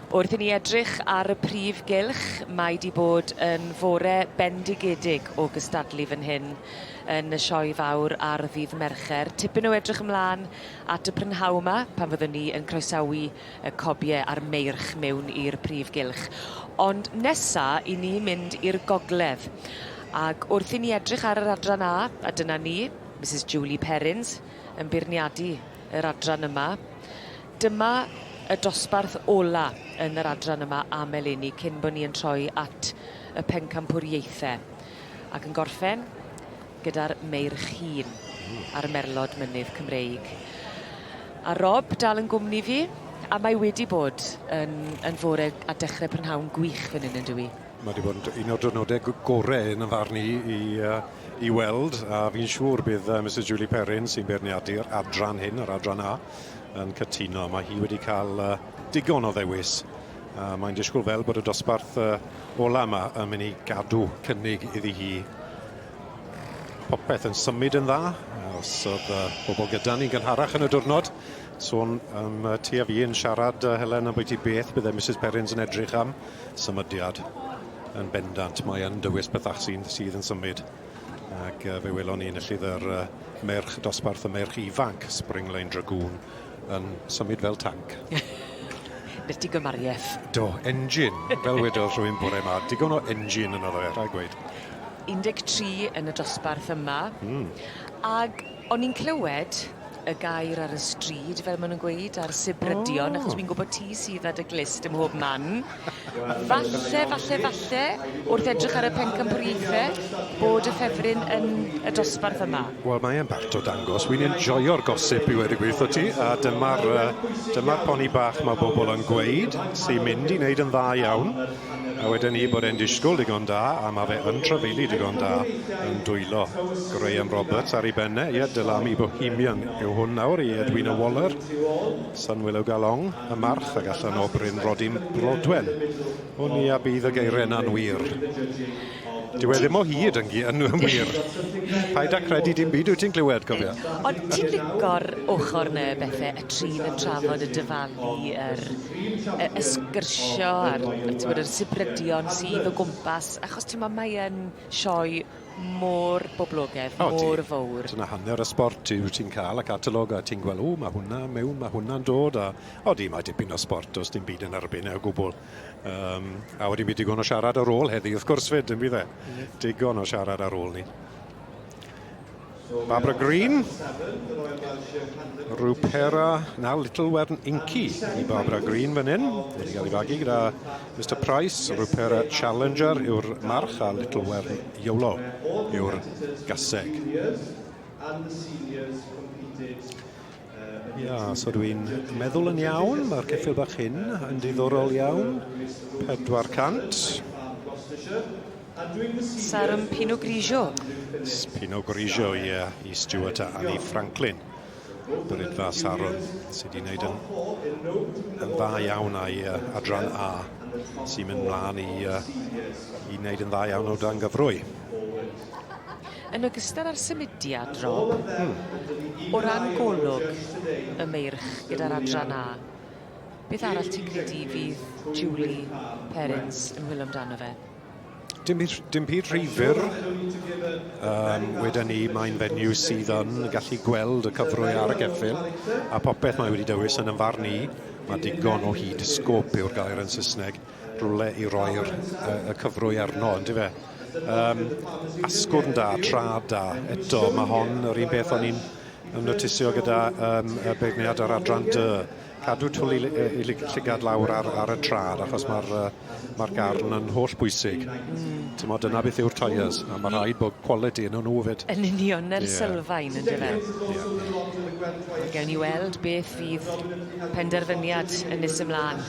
Wrth i ni edrych ar y prif gylch, mae wedi bod yn fore bendigedig o gystadlu fan hyn yn y sioe fawr ar ddydd Mercher. Tipyn o edrych ymlaen at y prynhawn yma, pan fyddwn ni yn croesawu y cobie a'r meirch mewn i'r prif gylch. Ond nesa, i ni mynd i'r gogledd. Ac wrth i ni edrych ar yr adran A, a dyna ni, Misus Julie Perrins, yn beirniadu yr adran yma. Dyma y dosbarth ola yn yr adran yma am eleni, cyn bo ni yn troi at y pencampwriaethe. Ac yn gorffen, gyda'r Meirchîn a'r Merlod Mynydd Cymreig. A Rob dal yn gwmni fi, a mae wedi bod yn, yn fore a dechrau prynhawn gwych fan hyn yn dywi? Mae wedi bod yn un o'r diwrnodau gorau yn y farn i, i, i weld, a fi'n siŵr bydd uh, Mrs Julie Perrin sy'n beirniadu'r adran hyn, yr adran A, yn cytuno. Mae hi wedi cael uh, digon o ddewis Uh, mae'n disgwyl fel bod y dosbarth uh, ola yma yn mynd i gadw cynnig iddi hi Popeth yn symud yn dda, os oedd uh, bobl gyda ni'n gynharach yn y diwrnod. Sôn um, ti a fi yn siarad, uh, Helen, am bwyty beth byddai Mrs Perrins yn edrych am symudiad yn bendant. Mae yn dywys bethach sy'n sydd yn symud. Ac uh, fe welon ni yn y llyfr uh, merch dosbarth y merch ifanc, Springline Dragoon, yn symud fel tanc. Beth di gymariaeth? Do, engine, fel wedodd rhywun bore yma, digon o engine yno ddoe, rhaid gweud. 13 yn y dosbarth yma. Mm. Ag o'n i'n clywed y gair ar y stryd, fel maen nhw'n gweud, a'r sibrydion, oh. achos dwi'n gwybod ti sydd â dy glist ym mhob man. Falle, falle, falle, wrth edrych ar y pencampwriaethe, bod y ffefryn yn y dosbarth yma. Wel, mae e'n bart o dangos. Wi'n enjoio'r gosip, i weud y gwir 'tho ti, a dyma'r yy dyma'r poni bach ma' bobl yn gweud sy'n mynd i wneud yn dda iawn, a weden i bod e'n disgwl digon da, a ma' fe yn trafeilu digon da, yn dwylo Graham Roberts ar ei ben e. Ie, Del Ami Bohemian yw hwn nawr i Edwina Waller. San Wil o Galong, y March, ag allan o Bryn Rodin, Brodwen. O ni a bydd y geiren anwir. Dyw e ddim o hyd yn gi yn wir. Paid â credu dim byd wyt ti'n clywed, cofia. Ond ti'n lico'r ochr 'na bethe y trin yn trafod y dyfalu yr y y sgyrsio a'r t'wod yr sibrydion sydd o gwmpas achos t'mo mae yn sioe mor boblogedd, oh, mor fawr. Dyna hanner y sport yw ti'n cael y catalog a ti'n gweld, o, mae hwnna mewn, mae hwnna'n dod, a odi, mae dipyn o sport, os dim byd yn erbyn e o gwbl. Um, a wedi mi digon o siarad ar ôl heddi, wrth gwrs fyd, yn bydd e? Digon o siarad ar ôl ni. Barbara Green. Rupera, na, Little Wern Inky i Barbara Green fan hyn. Wedi cael ei fagu gyda Mr Price, Rupera Challenger yw'r march a Little Wern Iolo yw'r gaseg. Ia, so dwi'n meddwl yn iawn, mae'r ceffil bach hyn yn diddorol iawn. 400. Sarum Pinot Grigio. Pinot Grigio, ie, yeah, i Stuart a Annie Franklin. Brydfa Sarum, sydd wedi gwneud yn, yn dda iawn a'i uh, adran A, sy'n mynd mlaen i, uh, i wneud yn dda iawn o dan gyfrwy. Yn ogystal â'r symudiad, Rob, o ran golwg y Meirch gyda'r Adran A, beth arall ti'n credu fydd Julie Perrins yn hwyl amdano fe? Dim byd, dim byd rhy fyr. Um, wedyn ni, mae'n fenyw sydd yn gallu gweld y cyfrwy ar y geffil, a popeth mae wedi dewis yn ymfarn i, mae digon o hyd sgop yw'r gair yn Saesneg, rywle i roi'r uh, y cyfrwy arno, ynddi fe? Um, asgwrn da, tra da, eto, mae hon yr un beth o'n i'n notisio gyda um, y beirniad ar adran dy. Cadw twli i llygad lawr ar, ar y trad, achos mae'r uh, mae garn yn holl bwysig. Mm. Tymo, dyna beth yw'r tyres, a mae rhaid bod quality yn nhw fyd. Yn union, yr yeah. sylfaen, ynddo fe? Yeah. Gawn ni weld beth fydd penderfyniad yn nes ymlaen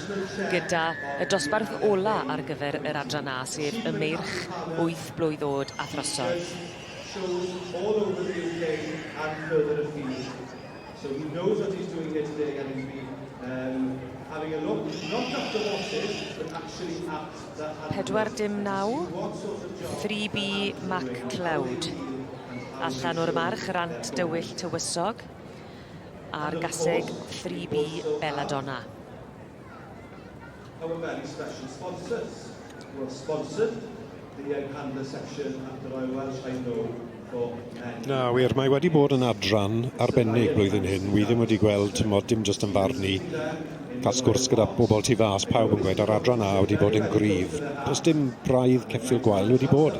gyda y dosbarth ola ar gyfer yr adran A, sef y meirch wyth blwydd oed a throsodd. shows all over the UK and further afield. So he knows what he's doing here today and he's been um, having a look, not at the horses, but actually at the handlers. 4 dim 9, 3B Mac Cloud. Allan o'r march, Rant Dywyll Tywysog. a'r gaseg 3B Belladonna. Our very special sponsors who have sponsored the Young Handler section at the Royal Welsh I know for many. Na wir, mae wedi bod yn adran arbennig blwyddyn hyn, wi ddim wedi gweld, timod, dim jyst yn farn i, cael sgwrs gyda pobl tu fas, pawb yn gweud yr adran A wedi bod yn gryf. Does dim braidd ceffyl gwael wedi bod.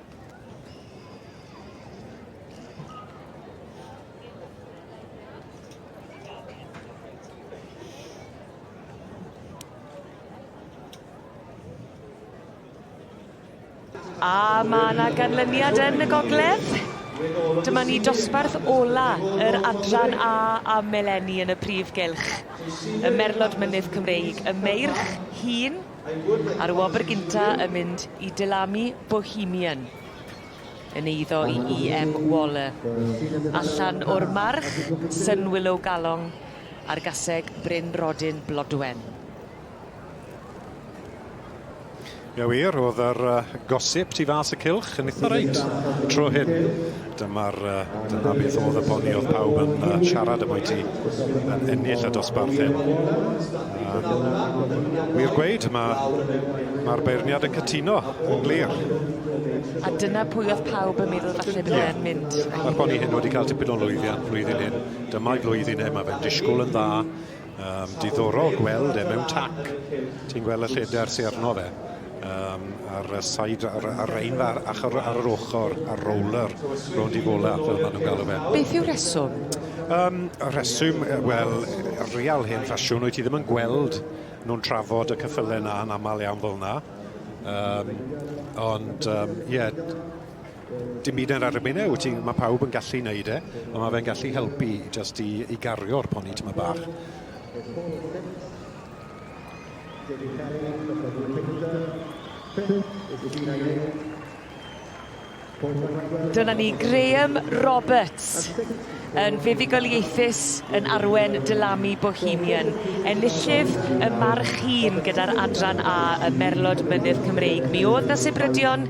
A mae yna ganlyniad yn y gogledd. Dyma ni dosbarth ola yr adran A a Meleni yn y prif gylch. Y merlod mynydd Cymreig, y meirch hun, Ar y wobr gynta yn mynd i Delamy Bohemian yn eiddo i EM Waller. Allan o'r march, Sun Willow Galong ar gaseg Bryn Rodin Blodwen. Ie wir, oedd yr uh, gosip tu fas y cylch yn eitha reit tro hyn. Dyma'r yy dyna beth o'dd y poeni o'dd pawb yn yy siarad am wyt ti yn ennill y dosbarth hyn. Yy wir gweud ma' ma'r beirniad yn cytuno yn glir. A dyna pwy o'dd pawb yn meddwl falle bydde e'n mynd. Ma'r poeni hyn wedi ca'l tipyn o lwyddiant flwyddyn hyn dyma'i flwyddyn e ma' fe'n disgwl yn dda. Um, diddorol gweld e mewn tac. Ti'n gweld y lleder sy'n arno fe um, ar y side, ar, ar ein ar, ar, ar yr ochr, ar roller, rownd i fola, fel maen nhw'n galw fe. Beth yw reswm? Um, y reswm, wel, real hen ffasiwn, wyt ti ddim yn gweld nhw'n trafod y cyffylau na yn aml iawn fel yna. Um, ond, ie, um, yeah, Dim byd ar erbyn e, wyt ti, mae pawb yn gallu neud e, ond mae fe'n gallu helpu just i, i gario'r poni tyma bach. Dyna ni, Graham Roberts yn fuddugoliaethus yn arwen Dylamu Bohemian. Enillydd y march hun gyda'r adran A y Merlod Mynydd Cymreig. Mi oedd na sibrydion